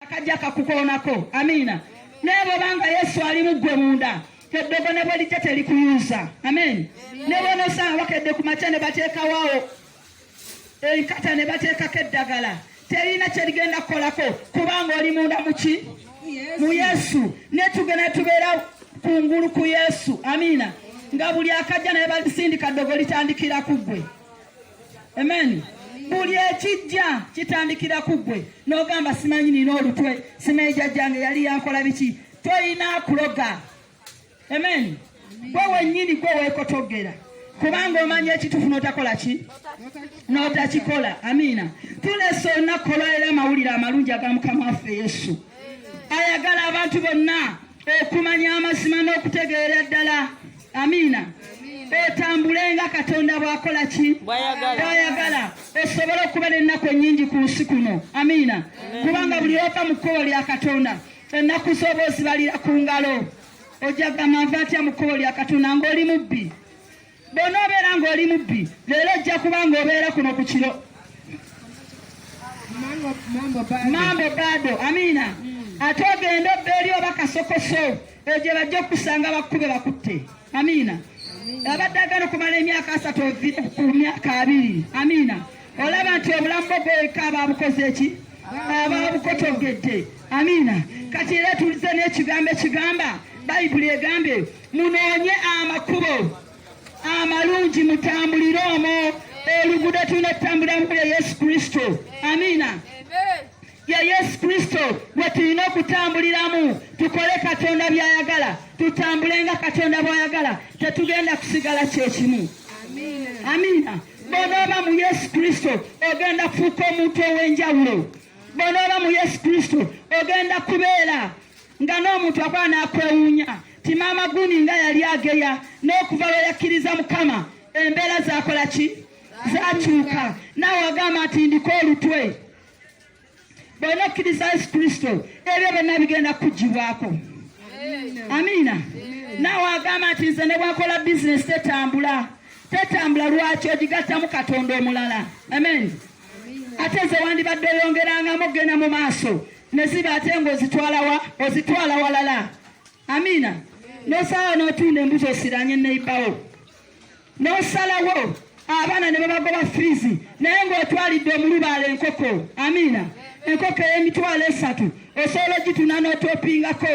akajja kakukoonako amiina naye bwobanga yesu ali mu ggwe munda eddogo ne bwelijja telikuyuza amen ne bwonosanga bakedde ku makya ne bateekawawo enkata ne bateekako eddagala terina kyerigenda kukolako kubanga oli munda muki mu yesu netugenda tubeera kungulu ku yesu amiina nga buli akajja naye balisindika ddogo litandikira ku ggwe Amen. Buli ekijja kitandikira ku ggwe n'ogamba simanyi nina olutwe simanyi jajjange yali yankola biki tolina kuloga amen gwe wennyini gwe weekotogera kubanga omanya ekitufu notakola ki notakikola amiina tulesa olunaku olwalero amawulire amalungi aga mukama waffe yesu ayagala abantu bonna okumanya amazima n'okutegeera ddala amiina otambule nga katonda bwakola ki bwayagala osobole okuba n'ennaku ennyingi ku nsi kuno amiina kubanga buli ova mu kkubo lya katonda ennaku z'oba ozibalira ku ngalo ojja gamba nva atya mu kkubo lya katonda ng'oli mubbi bw'onoobeera ng'oli mubbi leero ojja kuba ng'obeera kuno ku kiro mambo bado amiina mm. ate ogenda obba eri oba kasokoso egye bajja okusanga bakkube bakutte amiina abadde agana okumala emyaka asatu ovire ku myaka abiri amiina olaba nti obulamu bwo bweka ababukoze eki ababukotogedde amiina kati era tulize n'ekigambo ekigamba bayibuli egambe munoonye amakubo amalungi mutambulire omwo oluguudo tulina okutambulira mu ya yesu kristo amiina ya yesu kristo we tulina okutambuliramu tukole katonda byayagala tutambule nga katonda bwayagala tetugenda kusigala kyekimu amiina bwonooba mu yesu kristo ogenda kufuuka omuntu ow'enjawulo bwonooba mu yesu kristo ogenda kubeera nga n'omuntu akola n'akwewuunya ti maama guni nga yali ageya n'okuva lwe yakkiriza mukama embeera zakola ki zakyuka naawe agamba nti ndiko olutwe bwona okkiriza yesu kristo ebyo byonna bigenda kukugibwako amiina naawe agamba nti nze ne bwakola bizinesi tetambula tetambula lwaki ogigattamu katonda omulala amen ate ze wandibadde oyongerangamu okugenda mu maaso ne ziba ate ng'ozitwalawa ozitwala walala amiina nosalawo n'otunda embuzi osiranye neibawo nosalawo abaana ne babagoba fiizi naye ng'otwalidde omulubaala enkoko amiina enkoko ey'emitwalo esatu osobola ogituna n'otopingako